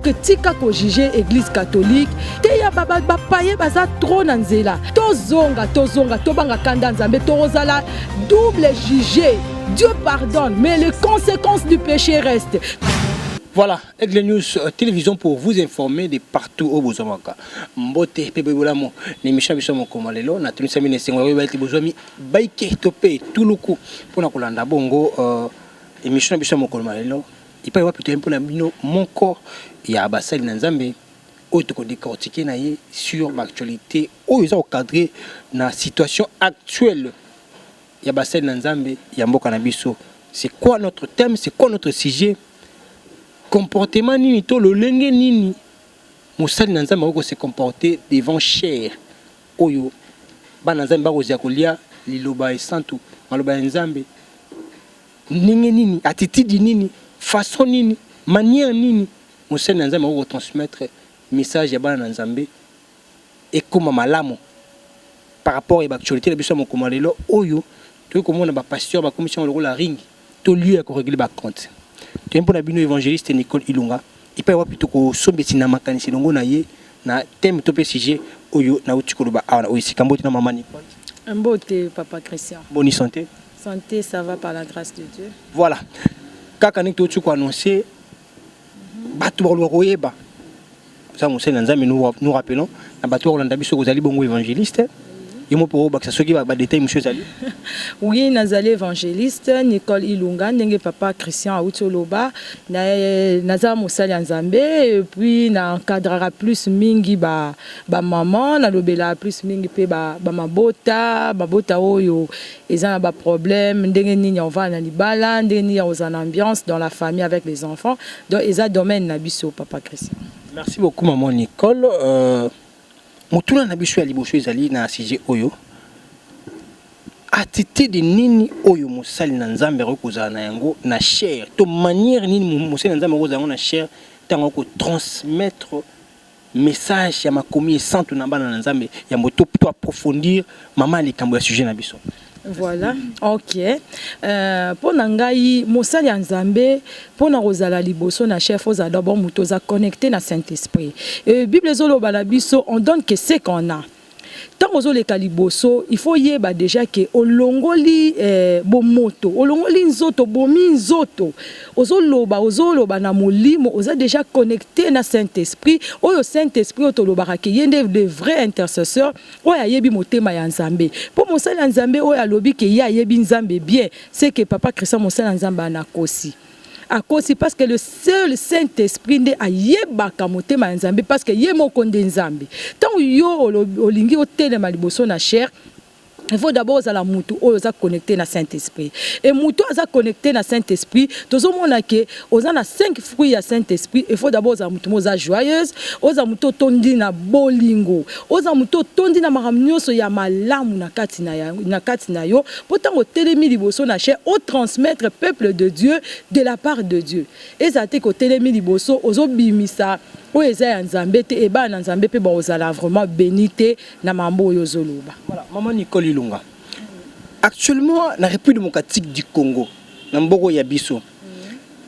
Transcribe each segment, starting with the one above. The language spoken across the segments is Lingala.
que tika ko juger église catholique teya bapaye baza trop na nzela tozonga tozonga tobanga kanda nzambe tokozala double juger dieu pardonne mais les conséquences du péché restent Voilà, Aigle News euh, Télévision pour vous informer de partout au Bozamaka. Mbote mpe boye bolamu na emission ya biso ya mokolo mwa lelo. Natunisami na esengo ya koyeba ete bozwami baike to mpe etuluku mpo na kolanda bongo uh, emission na biso ya mokolo mwa lelo epai wapi toyei mpo na bino moko ya basali na Nzambe oyo tokodecortike na ye sur baactualité oyo eza kocadre na situation actuelle ya basali na Nzambe ya mboka na biso. C'est quoi notre thème? C'est quoi notre sujet? Comportement nini to lolenge nini Mosali na Nzambe akoki ko se comporter devant chair oyo bana na Nzambe bakozia kolia liloba esantu, maloba ya Nzambe. Ndenge nini, attitude nini, façon nini, manière nini mosali na Nzambe akoki ko transmettre message ya bana na Nzambe ekoma malamu par rapport ya ba actualités na biso ya mokoma lelo oyo toyei komona ba pasteurs bakomisi yango lokola ring. to lieu ya ko regler ba compte toye mpo na bino evangeliste Nicole Ilunga epai wapi tokosombesi na makanisi elongo na ye na thème to mpe sujet oyo nauti koloba awa na oyo esika mbote na mama Nicole mbote papa Christian boni santé santé ça va par la grâce de Dieu voilà kaka ndenge touti koannonce bato bakoluka koyeba ntango mosali na nzambe nous rappelons na bato bakolanda biso kozali bongo évangéliste yo moko mpo obakisa soki badetail mosusu ezali oui nazali évangéliste nicole ilunga ndenge papa christian auti oloba naza mosali ya nzambe epuis na encadraka plus mingi bamama ba nalobelaka plus mingi mpe bamabota ba mabota oyo eza na ba problème ndenge nini ya kovanda na libala ndenge nini ya kozala na ambiance dans la famille avec les enfants donc eza domaine na biso papa Christian merci beaucoup maman Nicole euh, motuna na biso ya liboso ezali na sujet oyo attitude nini oyo mosali na nzambe akoki kozala na yango na chair to manière nini mosali na nzambe akozala yango na chair ntango akotransmettre message ya makomi esantu na bana na Nzambe ya moto to approfondir mama likambo ya sujet na biso voilà ok euh, mpo na ngai mosali ya nzambe mpo na kozala liboso na chef ozala dabord moto oza connecté na saint esprit euh, bible ezoloba na biso on donne que ce qu'on a Tango ozo leka liboso il faut yeba deja ke olongoli eh, bomoto olongoli nzoto bomi nzoto ozoloba ozoloba na molimo oza deja connecte na saint esprit oyo saint esprit oyo tolobaka ke ye nde de vrai intercesseur oyo ayebi motema ya nzambe mpo mosali ya nzambe oyo alobi ke ye ayebi nzambe bien seke papa christian mosali ya nzambe anakosi akosi parce que le seul saint esprit nde ayebaka motema ya nzambe parce que ye moko nde nzambe ntango yo olingi otelema liboso na chair il faut d'abord ozala mutu oyo oza connecté na saint esprit et mutu aza connecté na saint esprit tozomona ke oza na 5 fruits ya saint esprit il faut d'abord ozala mutu mo oza joyeuse oza mutu otondi na bolingo oza mutu otondi na makambo nyonso ya malamu na kati na, ya, na, kati na yo Po tango otelemi liboso na chaire o transmettre peuple de Dieu de la part de Dieu. Ezala te ke otelemi liboso ozo bimisa oyo eza ya Nzambe te et bana na Nzambe pe bako zala vraiment beni te na mambo oyo ozo loba. Voilà maman Nicole Ilunga actuellement na Republique Democratique du Congo na mboka oyo ya biso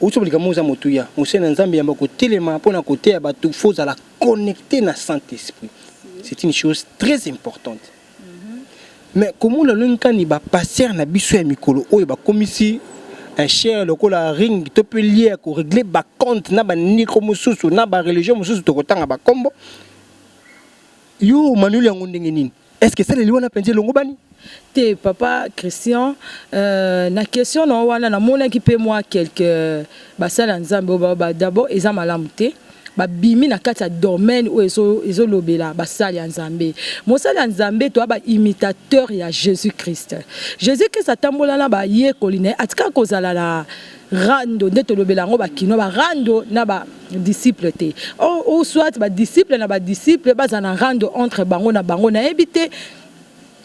outi obo likambo oza motuya mosali na Nzambe yamba kotelema pona koteya batu faut ozala connecte na Saint Esprit c'est une chose très importante. Mais komona ndenge kani ba pasteur na biso ya mikolo oyo bakomisi un cher lokola ring to pe lier ko régler ba compte na ba niko mosusu na ba religion mosusu tokotanga ba kombo yo manuel yango ndenge nini est-ce que esaleli wana mpenza elongobani te papa christian euh, na question na yo wana namonaki mpe mwa quelque basali ya nzambe oyo d'abord eza malamu te babimi na kati ya domaine oyo ezolobela ezo basali ya nzambe mosali ya nzambe toya baimitateur ya jésus christ jésus christ atambola na bayekoli na ye atikala kozala na rando nde tolobela yango bakino barando na ba disciple te ou soit badisciple na badisciple bazala na rando entre bango na bango nayebi te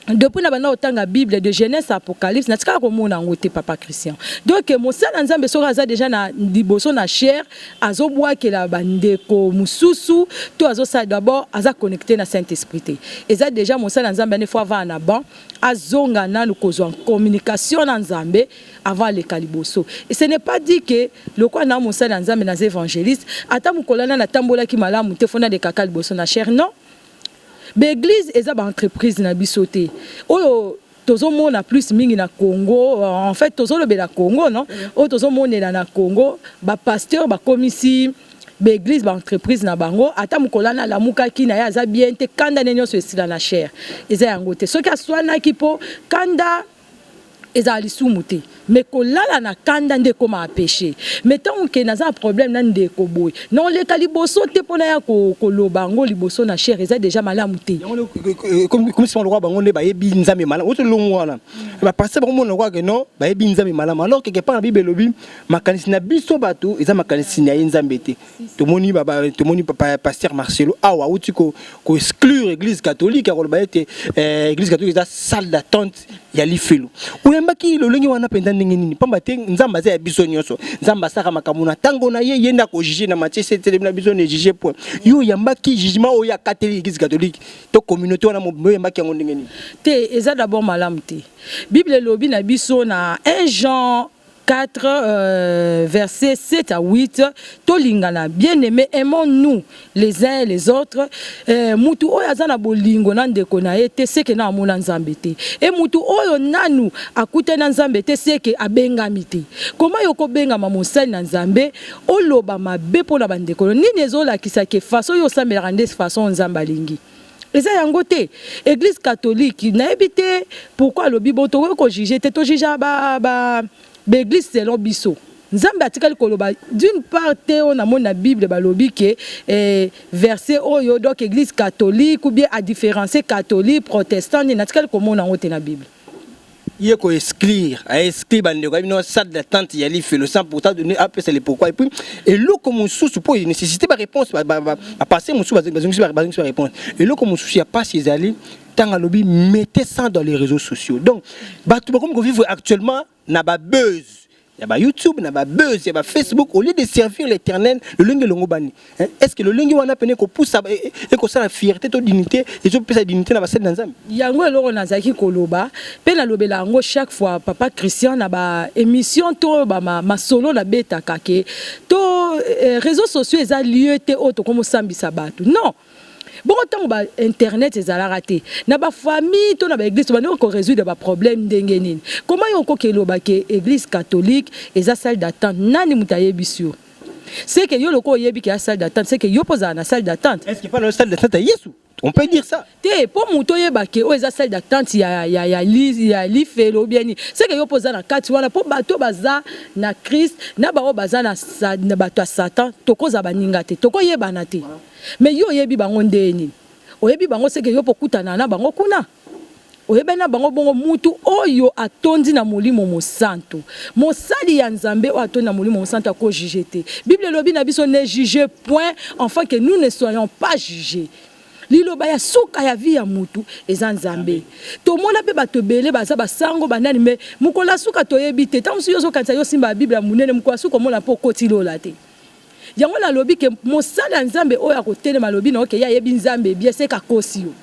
depuis na banda kotanga bible de genèse à apocalypse natikala komona yango te papa christian donc mosala ya nzambe soki aza deja na liboso na chaire azobwakela bandeko mosusu to azosala d'abord aza connecté na saint esprit te eza deja mosala ya nzambe ane fo avaa na ban azonga nanu kozwa communication na nzambe avant aleka liboso et ce n'est pas dit que lokola na mosala ya nzambe naza évangéliste ata mokolo ana natambolaki malamu te fo nalekaka liboso na chaire non Ba eglises eza ba entreprises na biso te oyo tozo mona plus mingi na Congo en fait tozo lobela Congo non oyo tozo monela na Congo ba pasteurs ba komisi ba eglises ba entreprises na bango ata mukolo wana alamukaki na ye aza bien te kanda ne nionso esila na chaire eza yango te soki aswanaki po kanda ezala lisumu te me kolala na kanda nde ekoma apeche me ntango ke naza na problème na ndeko boye na oleka liboso te mpona ya koloba yango liboso na chere eza deja malamu te komisima lokola bango nde bayebi nzambe malamu oto longo wana bapasteur bakomona lokola ke non bayebi nzambe malamu alors keke mpa na bible elobi makanisi na biso bato eza makanisi na ye nzambe te tomoni baba tomoni papa pasteur Marcelo awa auti ko ko exclure église catholique akoloba ete eh, église catholique eza salle d'attente ya lifelo oyambaki lolenge wana mpenza ndenge nini mpamba te nzambe aza ya biso nyonso nzambe asaka makambo na ntango na ye ye nde akojuge na matie setelemi na biso nejuge point yo oyambaki jugement oyo akateli église catholique to communauté wana mobimba oyambaki yango ndenge nini te eza d'abord malamu te bible elobi na biso na 1 jean 4, euh, verset 7 à 8, tolingana, bien aimé, aimons-nous les uns et les autres. Euh, mutu oyo aza na bolingo na ndeko na ye te seke na amona nzambe te e mutu oyo nanu akuta na nzambe te seke abengami te koma yo kobengama mosali na nzambe oloba mabe mpo na bandeko nini ezolakisa ke faso oyo osambelaka nde faso oyo nzambe alingi eza yango te eglise catholique nayebi te pourquoi alobi bo tokoki kojuge te tojuja baeglise selon biso nzambe atikali koloba d'une part te oyo namoni na bible balobi ke eh, verset oyo donc église catholique ou bien adifferencie catholique protestant nini natikali komona yango te na bible ye ko exclure a exclure bandeko ya bino salle d'attente ya lifelo sans pourtant donner apesa le pourquoi et puis eloko mosusu mpo nécessité baréponse bapasse mosusu bazongisi baréponse eloko mosusu ya mpasi ezali ntango alobi mettez ça dans les réseaux sociaux donc bato bakomi kovivre actuellement na babuse ya ba YouTube na ba buzz ya ba Facebook au lieu de servir l'Éternel lolenge elongobani hein? est-ce que lolenge wana pene ekopusa e, e, ekosala fierté to dignité ezopesa dignité na basali na Nzambe yango eloko nazalaki koloba mpe nalobela yango chaque fois papa Christian na ba émission to ba masolo na betaka ke to eh, réseaux sociaux eza lieu te oyo tokomosambisa bato non bongo ntango ba internet ezalaka te na ba famille to na ba église tobandaki ko résoudre ba problème ndenge nini koma yo okoki eloba ke église catholique eza salle d'attente nani moto ayebisi yo c'est que yo lokola oyebi ke ya salle d'attente c'est que yo mpo ozala na salle d'attente est ce que mpana salle d'attente ya yesu on peut dire ça te mpo moto oyeba ke oyo eza salle d'attente ya, ya, ya, li, ya lifelo ou bien nini c'est que yo mpo oza na kati wana mpo bato baza na christ na baoyo baza na, sa- na bato ya satan tokozala baninga te tokoyebana te Mais yo oyebi bango ndee nini? Oyebi bango seke yo mpe okutana na bango kuna? Oyebani na bango bongo mutu oyo atondi na molimo mosantu. Mosali ya Nzambe oyo atondi na molimo mosantu ako juger te. Bible elobi na biso ne jugez point enfin que nous ne soyons pas juges. Liloba ya suka ya vie ya mutu eza Nzambe. Tomona mpe batu ebele baza ba sango ba nani mais mokolo ya suka toyebi te. Tango mosusu yo ozo kanisa yo osimba bible ya munene mokolo ya suka omona mpe okoti lola te. Yango na lobi ke mosali ya nzambe oyo akotelema alobi na oke ye ayebi nzambe bie seka kosi yo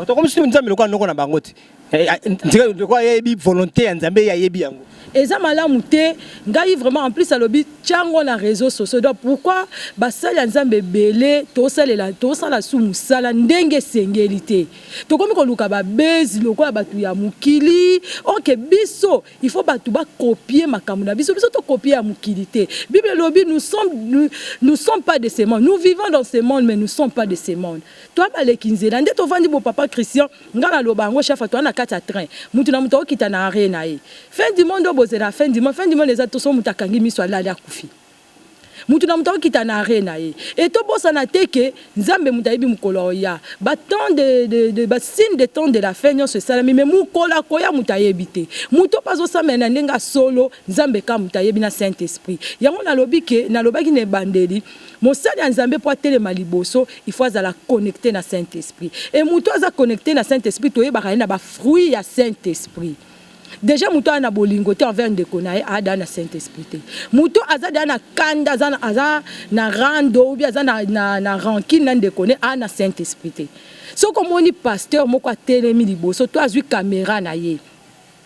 ah, tokomisi nzambe lokola noko na bango te eh, ah, ntika lokola yeyebi volonté ya nzambe ye ayebi yango eza malamu te ngai vraiment en plus alobi tiango na réseau sociaux donc pourquoi basali ya nzambe ebele tosalela tosala su mosala ndenge esengeli te tokomi koluka babezi lokola bato ya mokili oke biso Il faut batu ba copier makambo na biso biso to copier ya mokili te. Bible elobi nous sommes nous, nous sommes pas de ce monde. Nous vivons dans ce monde mais nous sommes pas de ce monde. Toi baleki nzela nde tovandi bo papa Christian nga na loba yango chafa toi na kati ya train. Mutu na mutu okita na arena ye. Fin du monde obozela fin du monde fin du monde eza to so mutu akangi miso alali akufi. Mutu na mutu akokita na arret na ye et tobosana te que Nzambe mutu ayebi mukolo akoya ba temps de, de, de ba signe de temps de la fin nionso esalami mais mukolo akoya mutu ayebi te mutu pe azosambela na ndenge ya solo Nzambe kaka mutu ayebi na saint esprit yango nalobi que nalobaki na ebandeli mosali ya Nzambe po atelema liboso il faut azala connecte na saint esprit et mutu aza connecte na saint esprit toyebaka ye na ba fruit ya saint esprit deja moto aya na bolingo te envers ndeko na ye ada na saint esprit te moto aza deja na kanda aza, aza na rando ubi aza na, na, na rankine na ndeko ne aya na saint esprit te soki omoni pasteur moko atelemi liboso to azwi kamera na ye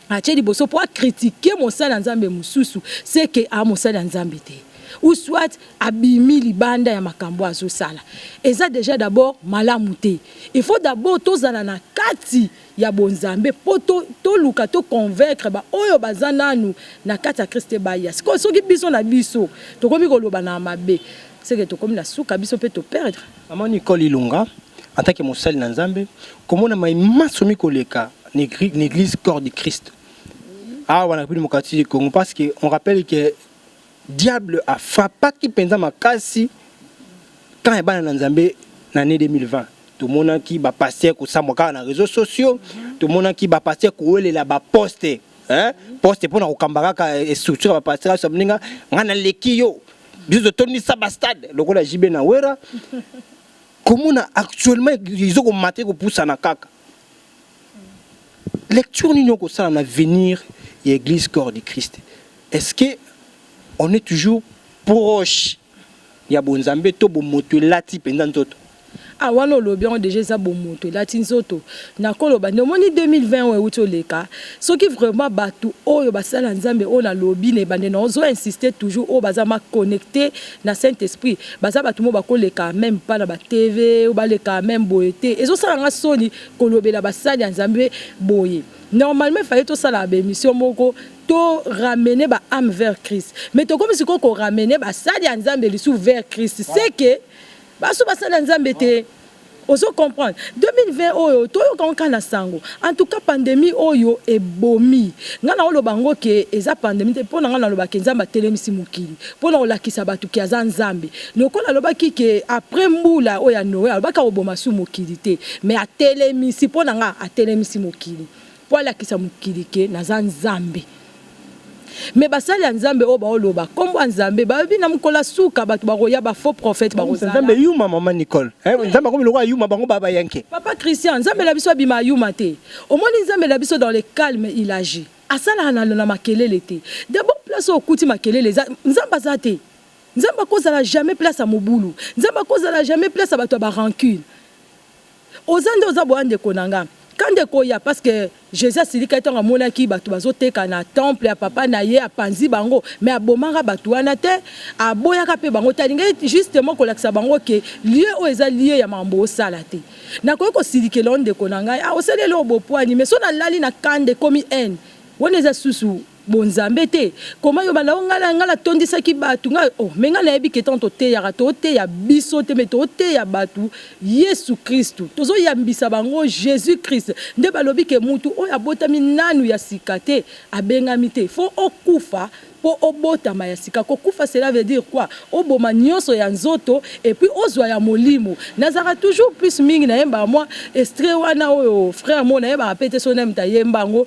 atie liboso mpo akritike mosali ya nzambe mosusu seke a mosali ya nzambe te ou soit abimi libanda ya makambo azosala eza deja dabord malamu te il faut dabord tozala na kati ya bonzambe po to toluka to convaincre ba oyo baza nanu na kati ya Christ te baya sikoyo soki biso na biso tokomi koloba na mabe seke tokomi na suka biso pe to perdre Maman Nicole Ilunga, en tant que mosali na Nzambe, komona mai manso mikoleka na egri- na eglise corps du Christ. Awa na Republique Democratique du Congo parce que on rappelle que Diable a frappaki penza makasi camp ya bana na Nzambe na annee 2020. Tomonaki ba pasteurs kosambwa kaka na reseaux sociaux, tomonaki ba pasteurs kowelela ba postes Hein? Poste pona kokamba kaka structure ya ba pasteurs aso mninga nga naleki yo. Biso totondisa ba stade lokola JB na Wera. Komona actuellement ezoko mate kopusana kaka. lecture nini okosala na avenir ya église corps du christ est ce que on est toujours proche ya bonzambe to bomoto elati mpenza nzoto a ah, wana olobi yango deja eza bomoto elati nzoto nakoloba nde omoni 2020 oyo euti oleka soki vraiment bato oyo basala nzambe oyo nalobi na ebande na ozo insiste toujours oyo baza maconnecte na saint esprit baza bato mo bakoleka meme mpa na batv oyo baleka meme boye te ezosala nga soni kolobela basali ya nzambe boye normalement fallait tosala ba émission moko to ramener ba âme vers Christ mais tokomi siko ko ramener basali ya nzambe lisu vers Christ c'est que baso basali ya nzambe te ozo comprendre 2020 oyo toyoka nka na sango en tout cas pandémie oyo ebomi ngai naoloba yango ke eza pandémie te mpo na ngai nalobaka nzambe atelemisi mokili mpo na kolakisa bato ke aza nzambe Lokola alobaki que après mbula oyo ya Noe, alobaki akoboma su mokili te, mais atelemisi, mpo na nga atelemisi mokili mpo alakisa mokili que naza Nzambe. Mais basali ya Nzambe oyo baoloba kombo ya Nzambe bayebi na mokolo ya suka bato bakoya ba faux prophète bakozala. Nzambe yuma maman Nicole. Eh, Nzambe akomi lokola yuma bango ba bayanke. Papa Christian, Nzambe na biso abima yuma te. Omoni Nzambe na biso dans le calme il agit. Asalaka na makelele te. D'abord place oyo okuti makelele eza, Nzambe aza te. Nzambe ako zala jamais place ya mobulu, Nzambe ako zala jamais place ya batu ya ba rancune. Oza nde oza boya ndeko na nga. Kanda ekoya parce que Jesus asilikaki tango amonaki batu bazo teka na temple ya papa na ye, apanzi bango mais abomaka batu wana te, aboyaka pe bango te, alingaki justement kolakisa bango que lieu oyo eza lieu ya makambo bosala te. Nakoki kosilikela yo ndeko na ngai, ah osali eloko bopuani mais soki nalali na kanda ekomi haine, wana eza susu. bonzambe te koma yo banda ongala ngala tondisaki bato ngai oh, me ngai nayebi ke ntango toteyaka toteya biso te me toteya bato yesu kristu tozoyambisa bango jésus christ nde balobi ke mutu oyo abotami nanu ya sika te abengami te fo okufa mpo obotama ya sika kokufa cela veut dire quoi oboma nyonso ya nzoto epuis ozwa ya molimo nazalaka toujours plus mingi nayembaka mwa estre wana oyo frère moko nayebaka mpe te so nayemta yemba yango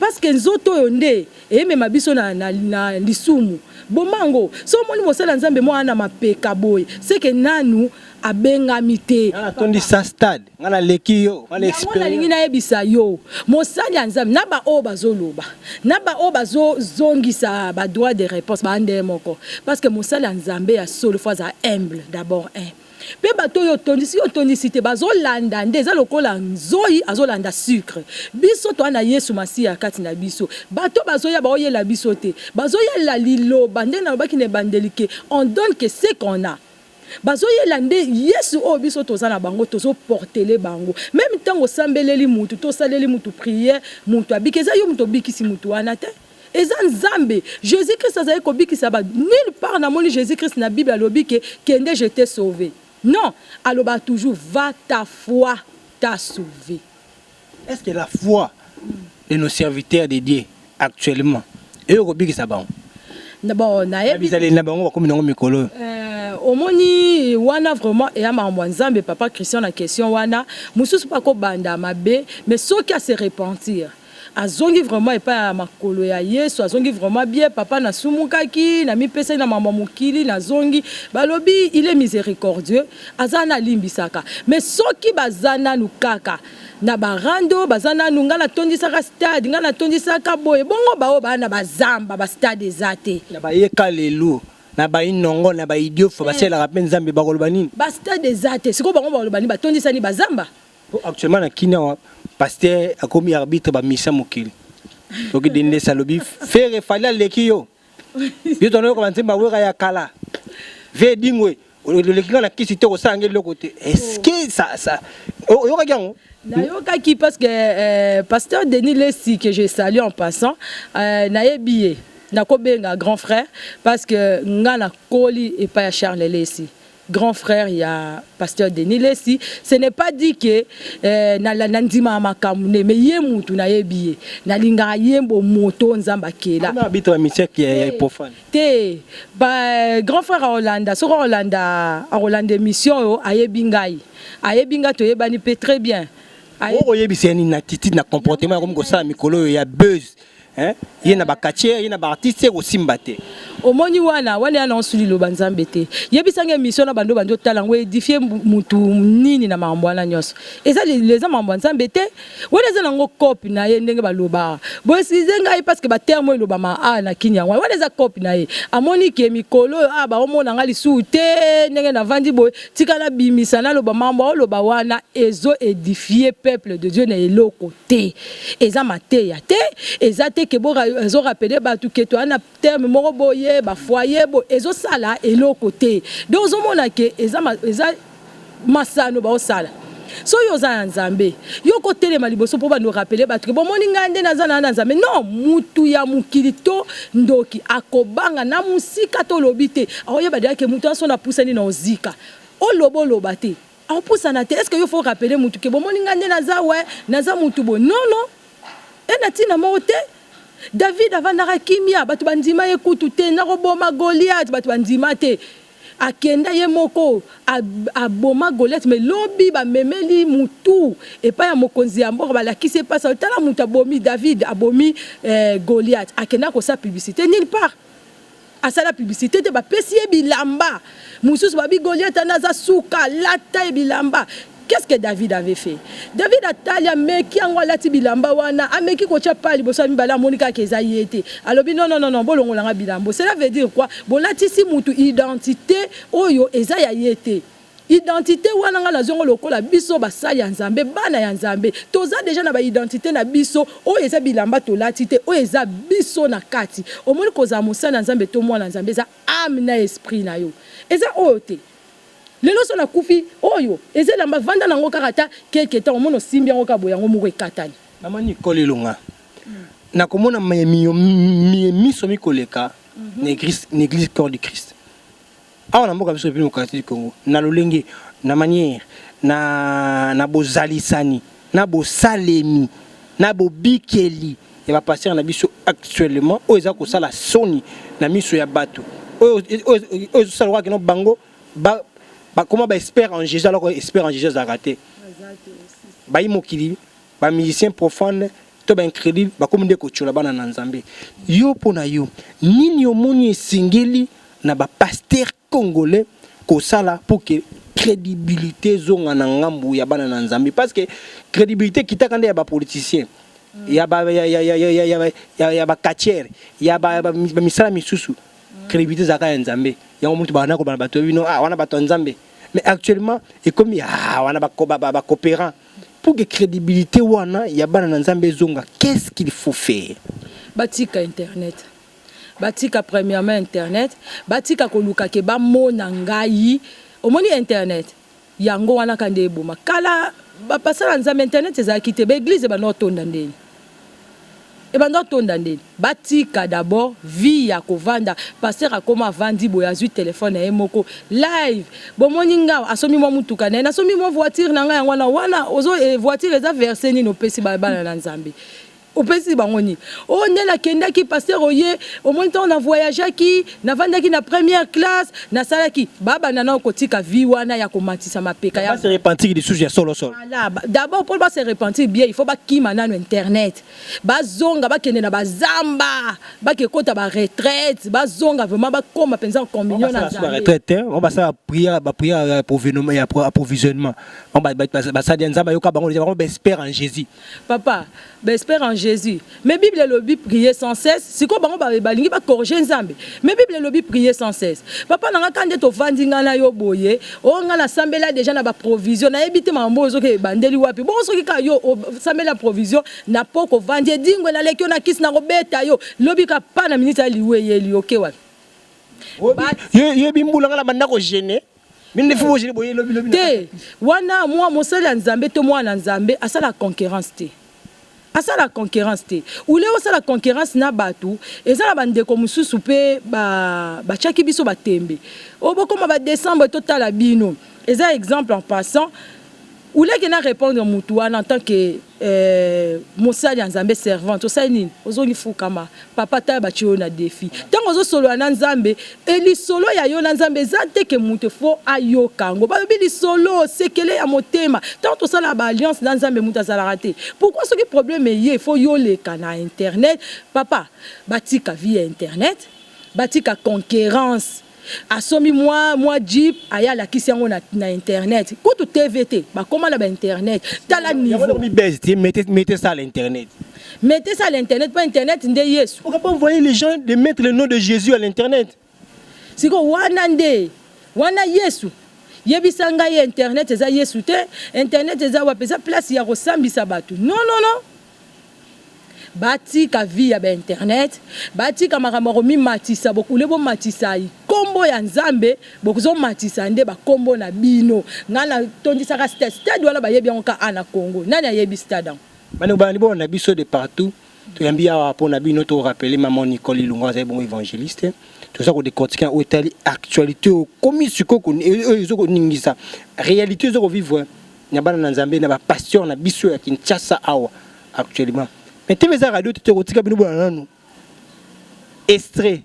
parce que nzoto oyo nde emema biso na, na, na lisumu boma yango so omoni mosala nzambe mwana na mapeka boye seke nanu abengami te atondisa stade nga naleki yo yango nalingi nayebisa yo mosali ya nzambe na baoyo bazoloba na baoyo bazozongisa badroit de réponse baande moko parce que mosali ya nzambe ya solo fo azala humble d'abord un mpe bato oyo otondisi yo otondisi te bazolanda nde eza lokola nzoi azolanda sucre biso toa na yesu masiya ya kati na biso bato bazoya baoyela biso te bazoyela liloba nde nalobaki na ebandeli ke on donne ke ce qu'on a bazoyela nde yesu oyo biso toza na bango tozoportele bango meme ntango osambeleli motu to osaleli motu priere motu abiki eza yo moto obikisi motu wana te eza nzambe jesus christ azali kobikisa ba nulle part namoni jesus christ na bible alobi ke kende je te sauve non alobaka toujours va ta foi ta sauve est ce que la foi de nos serviteurs de dieu actuellement eyo kobikisa bango bon nayebizaleli na bango bakomi nango mikolo euh, omoni wana vraiment eya makambo ya nzambe papa christian na question wana mosusu mpe akobanda mabe mais soki ase repentir Azongi vraiment epai ya makolo ya Yesu, azongi vraiment bien, papa na sumukaki, na mipesaki na mambo ya mokili, na zongi, balobi il est misericordieux, aza na limbisaka, mais soki baza nanu kaka na ba rando, baza nanu nga na tondisaka stade, nga na tondisaka boye, bongo ba oyo ba na ba zamba ba stade eza te? Na ba ye kalelu, na ba inongo, na ba idiofa, ba selaka pe nzambe, ba koloba nini? Ba stade eza te, sikoyo bango ba koloba nini? Ba tondisa nini? Ba zamba? Po actuellement na kina wa pasteur akomi arbitre ba misa mokili. Toki dende salobi fere fali aleki yo. Yo tono ko banzemba wera ya kala. Ve dingwe oleki nga na kisi te kosala nge eloko te. Est-ce que ça ça oyokaki yango? nayokaki parce que euh, pasteur denis lesi que je salue en passant euh, nayebi ye nakobenga grand frère parce que nga nakoli epai ya charles lesi grand frère ya pasteur Denis Lessi ce n'est pas dit que eh, na, na, na ndima ya makambo ne mais ye mutu nayebi ye nalingaka ye bomoto nzambe akela na abito ya misiaki ya eh, profane te ba grand frère akolanda soki akolanda akolanda émission oyo ayebi ngai ayebi ngai toyebani mpe très bien okoyebisa ye nini na attitude na comportement yakomi kosala mikolo oyo ya buzz Hein? ye na bakatier ye na baartiste ekosimba te omoni wana wana yana osuli loba nzambe te yebisanga émission na bando bandi otala yango edifie mutu nini na makambo wana nyonso eza eza makambo ya nzambe te wana eza nango cope na ye ndenge balobaka boesize ngai parce que baterme elobama a na kini yango wana eza cope na ye amoni ke mikolo oyo a baomona ngai lisusu te ndenge navandi boye tika nabimisa naloba mambo aoloba wana ezo edifie peuple de dieu na eloko te eza mateya te eza te ke ezo rapele bato ke toya na terme moko boye bafoye boye ezosala eloko te donc ozomona ke eza, eza masano baosala soki oza ya nzambe yo okotelema liboso mpo bando rapele bato ke bomoni ngai nde naza na na nzambe non mutu ya mokili to ndoki akobanga na mosika to olobi te aoyeba deya ke moto yanso napusani na ozika oloba oloba te Akopusana te. Est-ce que yo faut rappeler mutu ke bomoni nga nde naza we naza mutu boye? Non non. Eza na tina moko te. David avandaka kimia batu bandima ye kutu te nakoboma Goliath batu bandima te. Akenda ye moko aboma Goliath mais lobi bamemeli mutu epai ya mokonzi ya mboka balakisi ye pasi tala mutu abomi David abomi eh, Goliath. Akenda kosa publicité nulle part. asala publicité te bapesi ye bilamba mosusu babi goliata nde aza suka alata ye bilamba qu'est-ce que david avait fait david atali ameki yango alati bilamba wana ameki kotya pa liboso ya mibale amoni kaka eza ye te alobi nononono bolongola nga bilambo cela veut dire quoi bolatisi motu identité oyo eza ya ye te Identite wana nga nazwi yango lokola biso basali ya Nzambe, bana ya Nzambe toza deja na ba identite na biso oyo eza bilamba tolati te, oyo eza biso na kati. Omoni kozala mosali ya Nzambe to mwana ya Nzambe eza ame na esprit na yo. Eza oyo te lelo soki nakufi oyo eza elamba vanda na yango kaka ata quelque temps omoni osimbi yango kaka boye yango moko ekatani. Maman Nicole Elonga, nakomona miso mikoleka na eglise Corps du Christ. Awa na mboka biso Republique Democratique du Congo, na lolenge, na manière, na, na bozalisani, na bosalemi, na bobikeli ya ba pasteurs na biso actuellement, oyo eza kosala soni na miso ya batu, oyo, oyo, oyo ezosala lokola kino bango ba, bakoma ba experts en Jésus, alors que expert en Jésus azalaka te, bayi mokili. ba musiciens profanes to ba incredule bakomi nde kotyola bana na Nzambe. Yo mpo na yo nini omoni esengeli na ba pasteurs congolais kosala pour que credibilité ezonga na ngambo ya bana na Nzambe parce que credibilité ekitaka nde ya ba politiciens ya ba ya ya ya ya ya ya ba- ya ya ba catcheurs ya ba ya ba mis- ba misala misusu credibilité ezalaka ya Nzambe yango mutu bana kobana bato ya bino ah wana bato ya Nzambe mais actuellement ekomi ah wana ba ba ba coopérant Pour que credibilité wana ya bana na Nzambe ezonga, qu'est-ce qu'il faut faire? Batika internet. Batika premièrement internet, batika koluka ke bamona ngai. Omoni internet? Yango wana kande eboma. Kala bapasala Nzambe internet ezalaki te, ba eglise ebanda kotonda ndeni? ebanda otonda nde batika d'abord vie ya kovanda pasteur akoma avandi boye azwi telefone ya ye moko live bomoni nga asombi mwa motuka na ye nasombi mwa voiture na ngai yango wana wana ozo eh, voiture eza verse nini opesi bana na nzambe opesi bango nini oyo oh, nde nakendaki pasteur oye omoni ntango na voyageaki Navandaki na première classe, nasalaki ba banda na kotika vie wana ya komatisa mapeka ya. Ba se repentir lisusu ya solo solo. Voilà, d'abord pour ba se repentir bien, il faut ba kima nanu internet. Ba zonga ba kende na ba zamba, ba ke kota ba retraite, ba zonga vraiment ba koma penza en communion na Nzambe. Ba retraite te, on ba sa prière, ba prière ya provisionnement, ya approvisionnement. On ba ba sa dia Nzambe yoka bango, ba espère en Jésus. Papa, ba espère en Jesus mais bible elobi prier sans cesse sikoyo bango balingi ba corriger nzambe mais bible elobi prier sans cesse papa na nga ka nde tovandi ngai na yo boye oyo oh, ngai nasambela deja na baprovision nayebi te makambo oyo ozoki ebandeli wapi bongo soki ka yo osambeli na provision na po kovandi edingwe naleki yo na kisi nakobeta yo lobi ka pa na miniti ya liwa eyeli oke wapi yebi mbula ngai na banda kogene te wana mwa mosali ya nzambe to mwana nzambe asala concurrence te asala concurrence te ule osala concurrence na bato eza na bandeko mosusu mpe batyaki ba biso batembe oyo bokoma badecembre totala bino eza exemple en passant Olie que na repondre mutu wana en tant que euh, mosali ya Nzambe servante osali nini? Ozongi fukama papa tala batye yo na defi ntango ozosolola na Nzambe e lisolo ya yo na Nzambe eza te ke moto fo ayoka yango balobi lisolo sekele ya motema ntango tosala ba alliance na Nzambe moto azalaka te pourquoi soki problème eye fo yoleka na internet papa batika vie ya internet batika concurrence asombi mwa mwa jeep aye alakisi yango na, na internet kutu tv te bakoma na bainternet tala niveaumete ça à l'internet mete ça à l'internet mpo internet nde yesu pourquoi pas envoyer les gens de mettre le nom de jésus à l'internet siko wana nde wana yesu yebisa ngai internet eza yesu te internet eza wapi eza place ya kosambisa bato non non non Batika vie ya ba internet, batika makambo ya komimatisa, bokule bomatisa kombo ya Nzambe, bozomatisa nde ba kombo na bino. Ngai na tondisaka stade, stade wana bayebi yango kaka awa na Congo, nani ayebi stade yango? Bandeko balandi bolo na biso de partout, toyambi awa mpo na bino, to rappeler maman Nicole Ilunga azali bongo evangeliste, toza ko decortiquer na oyo etali actualite oyo komi sikoyo oyo ezo koningisa realite ezo ko vivre na bana na Nzambe na ba pasteurs na biso ya Kinshasa awa actuellement mais TV eza radio te kotika bino bana nanu extrait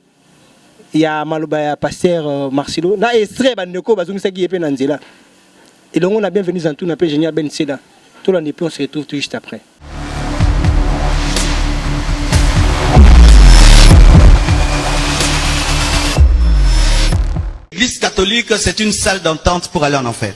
ya maloba ya pasteur euh, Marcelo na extrait ba ndeko bazongisaki ye pe na nzela elongo na bienvenue Zantuna pe Génial Ben Seda tolanda pe on se retrouve tout juste après L'église catholique, c'est une salle d'entente pour aller en enfer.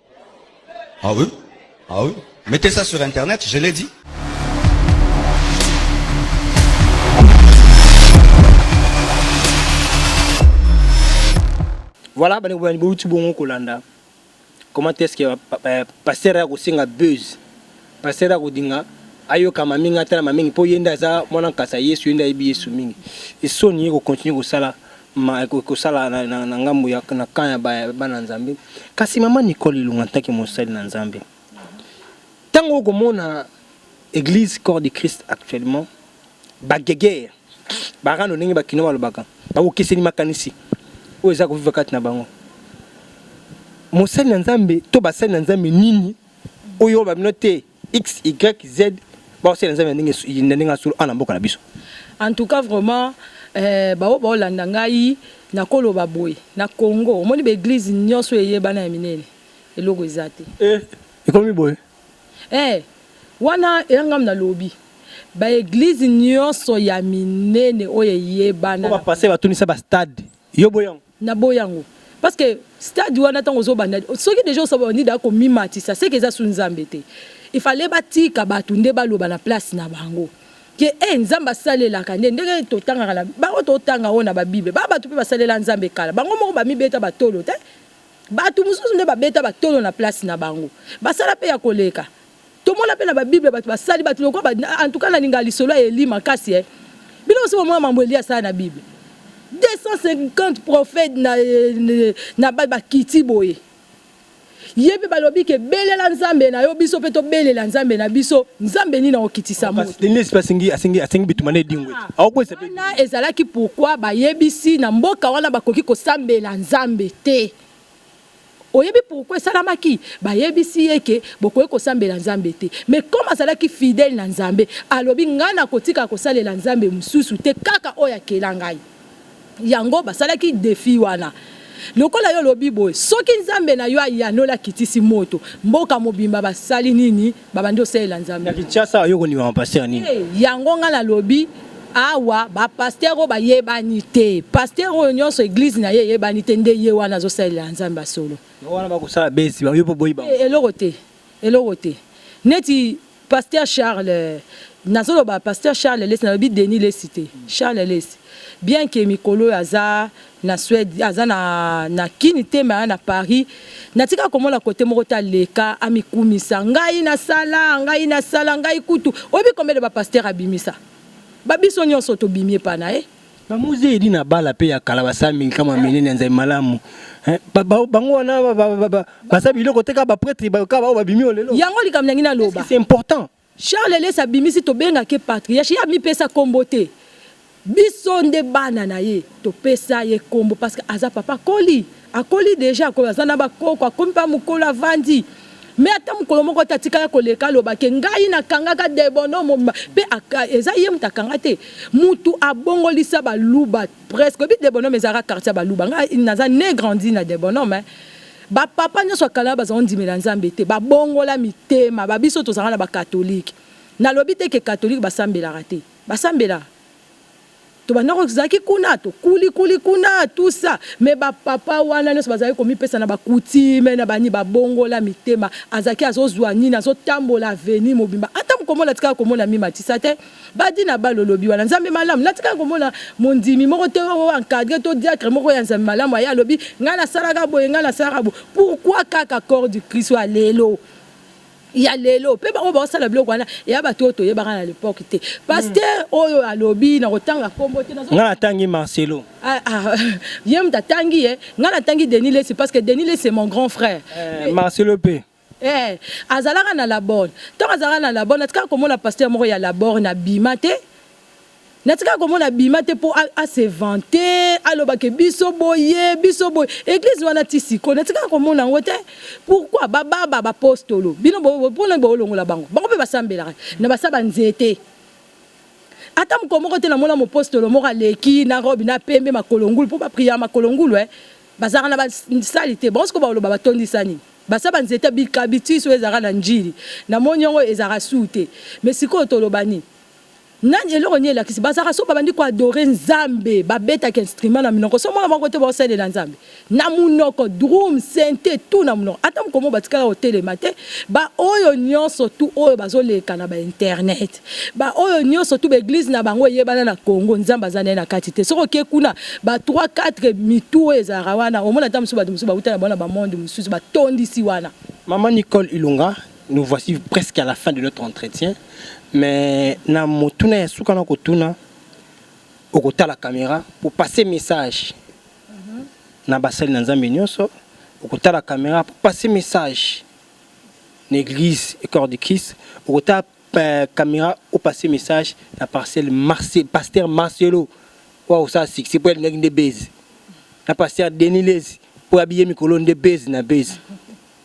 Ah oui Ah oui Mettez ça sur internet, je l'ai dit. Voilà, bani bani bouti bongo kolanda. Comment est-ce que euh, pasteur a kosinga buzz? Pasteur a kodinga ayokama mingi atalama mingi mpo ye nde aza mwana nkasa yesu ye nde ayebi yesu mingi esoni ye kokontinue kosala ma ekosala na, na, na ngambo ya na camp ya bana Nzambe. Kasi mama Nicole Ilunga ntaki mosali na Nzambe, ntango okomona Église Corps de Christ actuellement bagegere barando ndenge bakino balobaka bakokeseni makanisi oyo eza koviva kati na bango. Mosali na Nzambe to basali na Nzambe nini oyo bamino te xyz baosala nzambe na ndenge ya solo ana mboka na biso en tout cas vraiment eh, baoyo baolanda ngai nakoloba boye na congo omoni baeglize nyonso eyebana ya minene eloko eza te eh, ekomi boye eh, wana eyangami nalobi baeglize nyonso ya minene oyo eyebana bapase batunisa bastade Yo boyango. Na boyango. Parce que stade wana ntango ozobanda soki deja osabandi da komimatisa seke eza su nzambe te il fallait batika bato nde baloba na place na bango ke e eh, nzambe asalelaka nde ndenge totangaka na bango totanga oyo na babible ba bato mpe basalela nzambe kala bango moko bamibeta batolo te bato mosusu nde babeta batolo na place na bango basala mpe ya koleka tomona mpe na babible bato basali bato lokola en tout cas nalinga lisolo ya eli makasi e bino mosi bomona mambo eli asala na bible 250 prophète na, na bakiti boye ye mpe balobi ke belela nzambe na yo biso mpe tobelela nzambe na biso nzambe nini akokitisa motowana ezalaki pourkui bayebisi na mboka wana bakoki kosambela nzambe te Oyebi pourquoi esalamaki? Bayebisi ye ke bokoki kosambela Nzambe te. Mais comme azalaki fidèle na Nzambe, alobi ngai nakotika kosalela Nzambe mosusu te kaka oyo akela ngai. Yango basalaki defi wana. Lokola yo olobi boye, soki Nzambe na yo ayanola akitisi moto, mboka mobimba basali nini? babandi osalela nzambe na kinshasa oyo kondima bapastere nini eh, yango ngai nalobi awa bapastere oyo bayebani te pastere oyo nyonso eglize na ye eyebani te nde ye wana azosalela nzambe ya solo wana bakosala besi bayo mpo boyi bango eh, eloko te eloko te neti pasteur charles nazoloba pasteur charles lesi nalobi denis lesi te charles lesi bien ke mikolo oyo aza na Suède aza na na kini te mais na Paris natika komona kote moko ta leka amikumisa ngai na sala ngai na sala ngai kutu oyebi combien de ba pasteur abimisa ba biso nyonso tobimi epa na ye ba muze edi na bala pe ya kala basala mingi kama minene ya nzai malamu eh, bango wana basa biloko te kaka ba pretre kaka bao babimi olelo yango likambo nangi naloba c'est important Charles lesa abimisi tobenga ke patriarche ye amipesa kombo te biso nde bana na ye topesa ye kombo parce que aza papa akoli akoli deja akoli aza na bakoko akomi mpa mokolo avandi me ata mokolo moko te atikala koleka aloba ke ngai nakangaka debono momba mpe eza ye moto akanga te motu abongolisa baluba presque oyebi debono me ezalaka quartier ya baluba ngai naza ne grandi na debono me Ba papa nionso ya kala baza ondimela nzambe te ba bongola mitema ba biso tozanga na ba catholique na lobi te ke catholique ba sambelaka te ba sambelaka tobanda ko zaki kuna to kuli kuli kuna tout ça mais ba papa wana nionso bazali ko mipesa na ba coutume na bani ba bongola mitema azaki azozua nini azotambola avenue mobimba ata mukomona tikala komona mi matisa te Badi na balo lobi wana nzambe malamu natika komona mondimi moko te oyo encadre to diatre moko ya nzambe malamu aya lobi ngai nasalaka boye ngai nasalaka boye pourquoi kaka corps du Christ ya lelo ya lelo mpe baoyo baosala biloko wana ya bato oyo toyebaka na lepoke te paster oyo alobi na kotanga nkombo te ngai natangi marcelo ah, ah, ye moto atangi ye ngai natangi denis lesi parce que denis lesi mon grand frère eh, marcelo mpe Eeh azalaka na labor tango azalaka na labor natikaka komona pasteur moko ya labor na bima te natikaka komona abima te po a se vante aloba ke biso boye biso boye eglise wana ti sikoyo natikaka komona yango te pourquoi ba baba ba postolo bino pona bolongola bango bango pe basambelaka na basa ba nzete ata mokolo moko te namona mopostolo moko aleki na robe na pembe makolo ngulu po ba priya makolo ngulu eh bazalaka na basali te bango sikoyo baloba batondisa nini basa banzete bikabitisi oyo ezalaka na njili na moni yango ezalaka suu te me sikoyo toloba nini nani eloko nini elakisi bazalaka so babandi koadore nzambe babetaka instrument na minoko so mwana moko te baosalela nzambe na monoko drum sente tu na monoko ata mokomo batikala kotelema te baoyo nyonso tu oyo bazoleka na bainternet Ba oyo nioso tout ba eglise na bango eyebana na Congo nzambe aza naye na kati te soki oke kuna ba 3 4 mitu oyo ezalaka wana omona ata mosusu bato mosusu bauta na bango na ba monde mosusu batondisi wana. Maman Nicole Ilunga, nous voici presque à la fin de notre entretien mais na motuna ya suka na kotuna okotala camera pour passer message na basali na Nzambe nioso okotala camera pour passer message na église et corps du Christ okotala Euh, camera au passé message na parcelle Marcel, pasteur Marcelo wa osala succès mpo alingaki nde base na pasteur Denilese mpo abiye mikolo nde base na base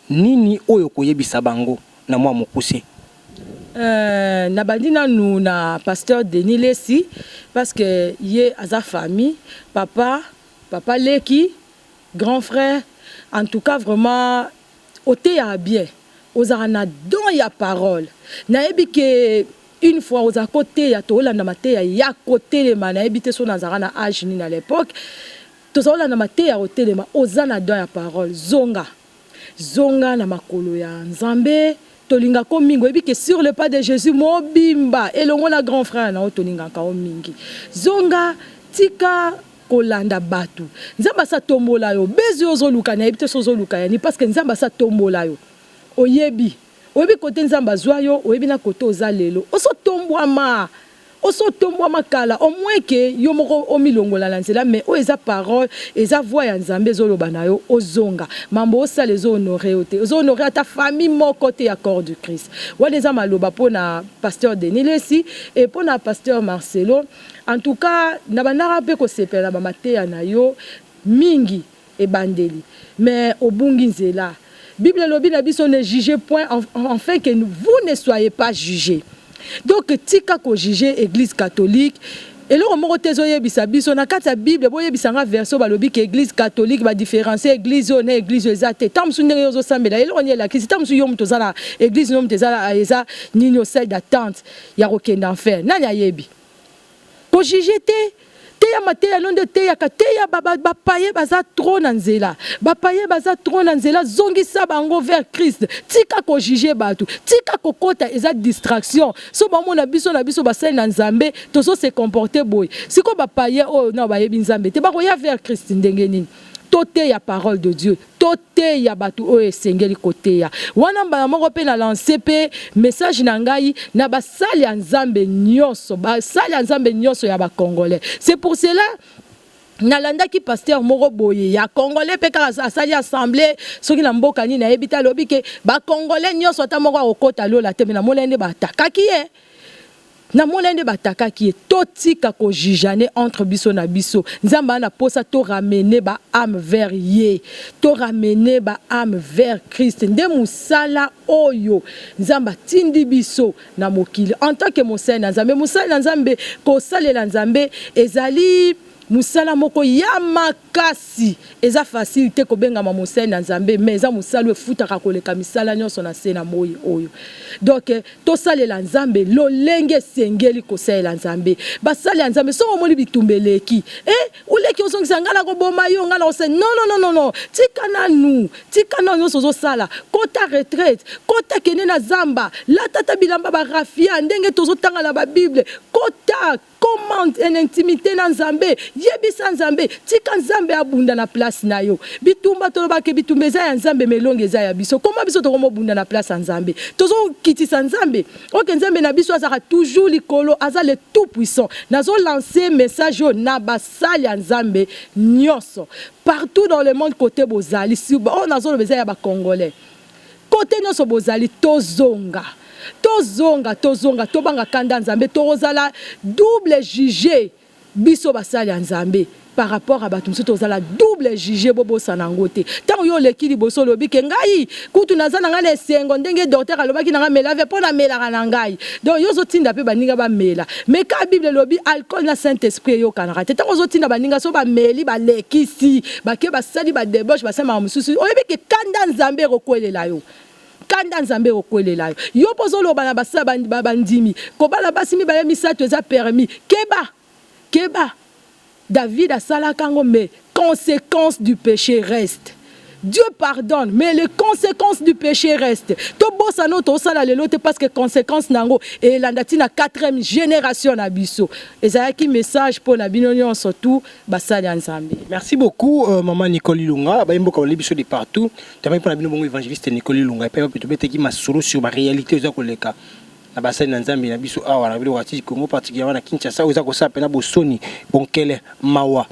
nini oyo koyebisa bango na mwa mokuse Euh, nabandi nanu na pasteur denis lesi parce que ye aza famille papa papa leki grand frère en tout cas vraiment Oteyaka bien ozalaka na don ya parole nayebi ke une fois ozalaka ko teya tolanda mateya yako telema nayebi te soki nazalaka na age nini à l'epoque tozako landa mateya yako telema oza na don ya parole zonga zonga na makolo ya nzambe tolinga ko mingi oyebi ke sur le pas de Jesus mobimba elongo na grand frère na yo tolingaka yo mingi zonga tika kolanda batu nzambe asi atombola yo buzz oyo ozoluka nayebi te soki ozoluka ya nini parce que nzambe asi atombola yo oyebi oyebi kote nzambe azwa yo oyebi na kote oza lelo osi otombwama osi otombwama kala au moins ke yo moko omilongola na nzela mais oyo eza parole eza voix ya nzambe ezoloba na yo ozonga mambo osala ezo honore yo te ezo honore ata famille moko te ya corps du christ wana eza maloba mpo na pasteur denis lesi e mpo na pasteur marcelo En tout cas na bandaka pe kosepela na ba mateya na yo mingi ebandeli mais obungi nzela bible elobi na biso ne juge point enfin que vous ne soyez pas juge donc tika ko juge eglise catholique eloko moko te ezoyebisa biso na kati ya bible boyebisa nga verse oyo balobi ke eglise catholique ba différencier eglise oyo na eglise oyo eza te ntango mosusu ndenge yo ozosambela eloko nini elakisi ntango mosusu yo moto oza na eglise no moto eza eza nini yo salle d'attente ya kokenda enfer nani ayebi ko juge te teya mateya no nde oteyaka teya bapaye baza trop na nzela bapaye baza trop na nzela zongisa bango vers christ tika kojuge bato tika kokota eza distraction so bamona biso na biso basali na nzambe tozo se comporte boye sikoyo bapaye oyo na bayebi nzambe te bakoya vers christ ndenge nini toteya parole de dieu Toteya bato oyo esengeli koteya. Wana mbala moko mpe na lanse mpe message na ngai na basali ya Nzambe nyonso, basali ya Nzambe nyonso ya ba Congolais. C'est pour cela nalandaki pasteur moko boye ya congolais mpe kaka asali assemble soki na mboka nini ayebi te alobi ke bacongolais nyonso ata moko akokota lola te me namonai nde baatakaki ye na mona nde batakaki ye totika ko jijane entre biso na biso nzambe ana posa to ramene ba ame vers ye to ramene ba ame vers christ nde mosala oyo nzambe atindi biso na mokili en tant que mosali na nzambe mosali na nzambe kosalela nzambe ezali mosala moko ya mak Kasi eza facile te kobengama mosali na Nzambe, mais eza mosala oyo efutaka koleka misala nyonso na nse na moi oyo. Donc tosalela Nzambe lolenge esengeli kosalela Nzambe. Basali ya Nzambe, soki omoni bitumba eleki, eh oleki ozongisa ngai nakoboma yo, ngai nakose non non non non, tika nanu, tika nanu nyonso ozosala, kota retraite, kota kende na zamba, lata ata bilamba ba raffia ndenge tozotanga na ba bible, kota Comment en intimité na Nzambe, yebisa Nzambe, tika Nzambe abunda na place na yo. Bitumba tolobaki bitumba eza ya Nzambe melongi eza ya biso. Comment biso tokomo bunda na place ya Nzambe? Tozo kitisa Nzambe. Ok Nzambe na biso azaka toujours likolo, aza le tout puissant. Nazo lancer message oyo na basali ya Nzambe nionso. Partout dans le monde kote bozali, si oyo nazo loba eza ya ba congolais. Cote nionso bozali tozonga tozonga tozonga tobanga kanda nzambe tokozala double juge biso basali ya nzambe par rapport à bato mosusu tozala double juge bobosana yango te ntango yo oleki liboso olobi ke ngai kutu naza na ngai na esengo ndenge docteur alobaki na ngai mela ve mpo namelaka na ngai donc yo ozotinda mpe baninga bamela mais kaka bible elobi alcool na saint esprit eyokanaka te ntango ozotinda baninga so bameli balekisi Bake basali ba debauche basali makambo mosusu, oyebi ke kanda ya Nzambe ekokwelela yo kanda nzambe ekokwelela yo yo mpo ozoloba na basa bandimi kobala basi mibale misato eza permis keba keba david asalaka yango mais conséquence du péché reste Dieu pardonne, mais les conséquences du péché restent. To bossa no to sala lelo te parce que conséquences nango et landati na 4e génération na biso. Ezalaki message pour na bino surtout basali ya nzambe merci beaucoup euh, mama nicole ilunga bayemboka balobi biso de partout tamaki mpo na bino bongo évangéliste nicole ilunga epai wapi tobetaki masolo sur baréalité oza koleka na basali na nzambe na biso awa na biloko ya congo particulièrement na kinshasa oyo eza kosala mpena bosoni bonkele mawa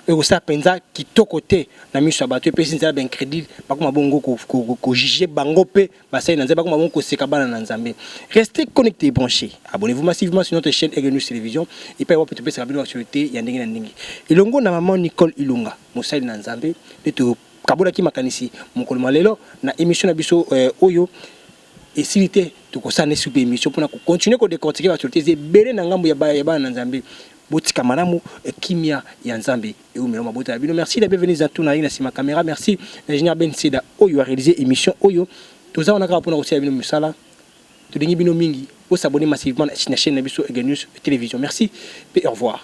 oyo kosala mpenza kitoko te na miso ya bato epesi nzela baincrédule bakoma bongo kojuge bango mpe basali na nzambe bakoma bongo koseka bana na nzambe reste connecté branché abonnez-vous massivement sur notre chaîne Aigle News Télévision epai wapi topesaka bino actualité ya ndenge na ndenge elongo na maman Nicole Ilunga mosali na nzambe nde tokabolaki makanisi mokolo mwa lelo na émission na biso euh, oyo esili te tokosala ne supe émission mpona kocontinue kodecortike baactualité eza ebele na ngambo ya bana na nzambe botika malamu eh, kimia ya nzambe eumela mabota ya bino merci la bienvenue za tuna na sima camera merci ingénieur Ben Seda oyo a réalisé émission oyo toza wana kaka pona kosala bino misala tolingi bino mingi o s'abonner massivement na chaîne na biso Ega News télévision merci et au revoir